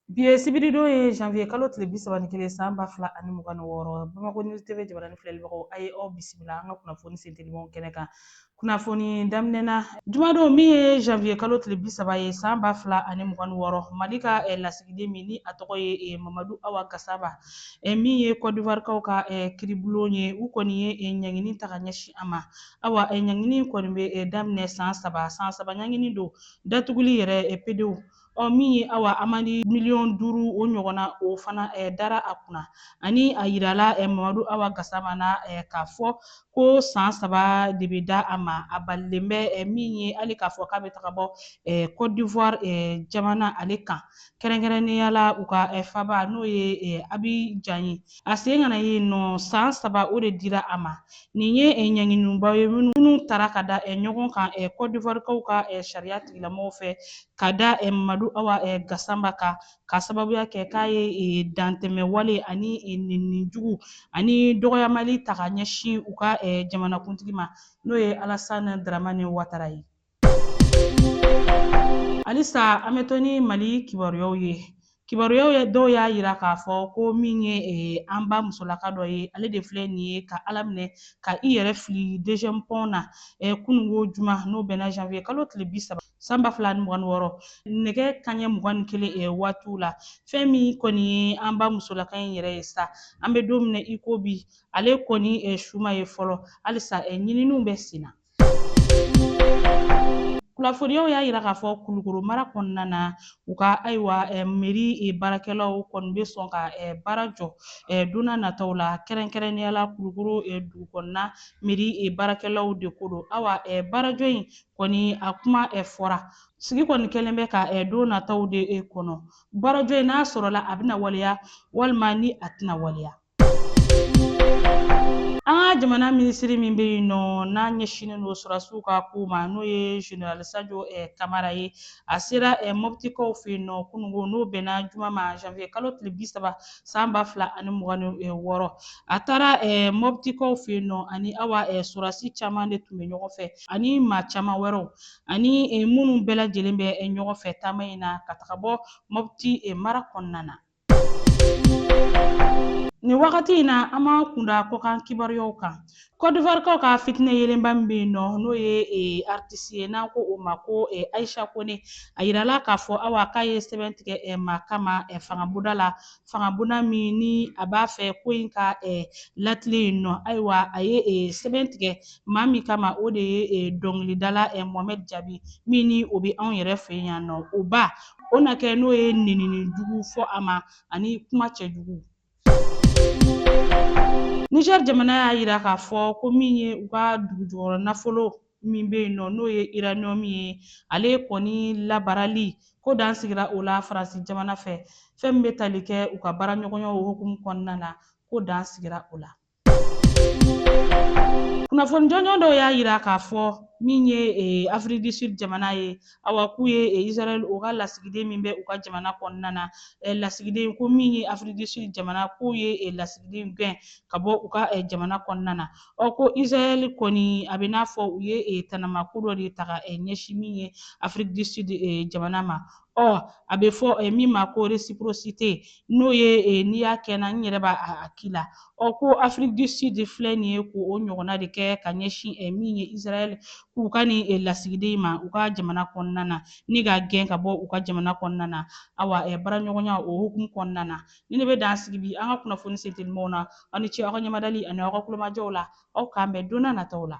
Bi sibiridon ye janvier kalo tile bi saba ni kelen san ba fila ani mugan ni wɔɔrɔ Bamakɔ News TV jabaranin filɛlibagaw a ye aw bisimila an ka kunnafoni senteliman kɛnɛ kan kunnafoni daminɛ na jumadon min ye janvier kalo tile bi saba ye san ba fila ani mugan ni wɔɔrɔ Mali ka eh, lasigiden min ni a tɔgɔ ye eh, Mamadu Awa Gasama eh, min ye Cote d'Ivoirekaw ka kiribulon ye u kɔni ye ɲangini ta ka ɲɛsin a ma awa ɲangini kɔni bɛ daminɛ san saba san saba ɲangini don datuguli yɛrɛ pedew Ɔ min ye awa amende miliyɔn duuru o ɲɔgɔnna o fana eh, dara a kunna ani a yirala eh, mamadu awa gasama na eh, k'a fɔ ko san saba de bɛ da a ma a balilen bɛ eh, min ye hali k'a fɔ k'a bɛ taga bɔ eh, cote d'ivoire eh, jamana ale kan kɛrɛnkɛrɛnnenya la u ka eh, faba n'o ye eh, abijan ye a sen kana yen nɔ san saba o de dira a ma nin ye eh, ɲanginibaw ye minnu tara ka da eh, ɲɔgɔn kan eh, cote d'ivoirekaw ka eh, sariya tigilamɔgɔw fɛ ka da eh, madu awa eh, gasama kan k'a sababuya kɛ k'a ye eh, dantɛmɛ wale ani nɛnini jugu ani dɔgɔyamali ta ka ɲɛsin u ka jamanakuntigi ma n'o ye alasane dramane watara ye halisa an bɛ to ni mali kibaruyaw ye Kibaruya dɔw y'a yira k'a fɔ ko min ye eh, an ba musolaka dɔ ye ale de filɛ nin ye ka ala minɛ ka i yɛrɛ fili deuxième pont na eh, kunungo juma n'o bɛnna janvier kalo tile bi saba san ba fila ni mugan ni wɔɔrɔ nɛgɛ kanɲɛ mugan ni kelen eh, waatiw la fɛn min kɔni ye an ba musolaka in yɛrɛ ye sa an bɛ don min na i ko bi ale kɔni eh, su ma ye fɔlɔ halisa eh, ɲininiw bɛ sen na Kunnafoniyaw y'a yira k'a fɔ Kulukoro mara kɔnɔna na, u ka ayiwa meri baarakɛlaw kɔni bɛ sɔn ka baara jɔ don na nataw la, kɛrɛnkɛrɛnnenya la Kulukoro dugu kɔnɔna meri baarakɛlaw de ko don, awa baarajɔ in kɔni a kuma fɔra, sigi kɔni kɛlen bɛ ka don nataw de kɔnɔ, baarajɔ in n'a sɔrɔla a bɛna waleya walima ni a tɛna waleya. An ka jamana minisiri min bɛ yen nɔ n'a ɲɛsinnen don sɔrɔdasiw ka ko ma n'o ye Zenerali Sajo Kamara ye a sera Mɔptikaw fɛ yen nɔ kununko n'o bɛnna juma ma zanwiye kalo tile bi saba san ba fila ani mugan ni wɔɔrɔ a taara Mɔptikaw fɛ yen nɔ ani awa sɔrɔdasi caman de tun bɛ ɲɔgɔn fɛ ani maa caman wɛrɛw ani minnu bɛɛ lajɛlen bɛ ɲɔgɔn fɛ taama in na ka taga bɔ Mɔpti mara kɔnɔna na. Nin wagati in na an b'an kun da kɔkan kibaruyaw kan kɔdiwarikaw ka fitinɛ yeelenba min bɛ yen nɔ n'o ye ee aritisi ye n'an ko o ma ko ee ayisha kone a yirala k'a fɔ awa k'a ye sɛbɛn tigɛ ɛ maa kama ɛ fangabonda la fangabonda min ni a b'a fɛ ko in ka ɛ latilen yen nɔ ayiwa a ye ee sɛbɛn tigɛ maa min kama o de ye ee dɔnkilidala ɛ mohamɛd jabi min ni o bɛ anw yɛrɛ fɛ yan nɔ o ba o na kɛ n'o ye nenini jugu fɔ a ma ani kuma cɛjugu Niger jamana y'a yira k'a fɔ ko min ye u ka dugujukɔrɔ nafolo min bɛ yen nɔ n'o ye uranium ye ale kɔni labaarali ko dan sigira o la faransi jamana fɛ fɛn min bɛ tali kɛ u ka baaraɲɔgɔnyaw hukumu kɔnɔna na ko dan sigira o la kunnafoni jɔnjɔn dɔw y'a yira k'a fɔ min ye eh, Afrique du Sud jamana ye awa k'u ye eh, Israël u ka lasigiden min bɛ u ka jamana kɔnɔna na eh, lasigiden ko min ye Afrique du Sud jamana k'u ye lasigiden gɛn ka bɔ u ka jamana kɔnɔna na ɔ ko Israël kɔni a bɛ n'a fɔ u ye tanamako dɔ de ta ka ɲɛsin min ye Afrique du Sud jamana ma ɔ a bɛ fɔ eh, min ma ko réciprocité n'o ye eh, n'i y'a kɛ n na n yɛrɛ b'a k'i la ɔ ko Afrique du Sud filɛ nin ye k'o ɲɔgɔnna de kɛ ka ɲɛsin eh, min ye Israël k'u ka nin lasigiden ma u ka jamana kɔnɔna na ni k'a gɛn ka bɔ u ka jamana kɔnɔna na awa baaraɲɔgɔnya o hukumu kɔnɔna na ni ne bɛ dan sigi bi an ka kunnafoni sentelimanw na aw ni ce aw ka ɲɛmadali ani aw ka kulomajɔw la aw k'an bɛn don na nataw la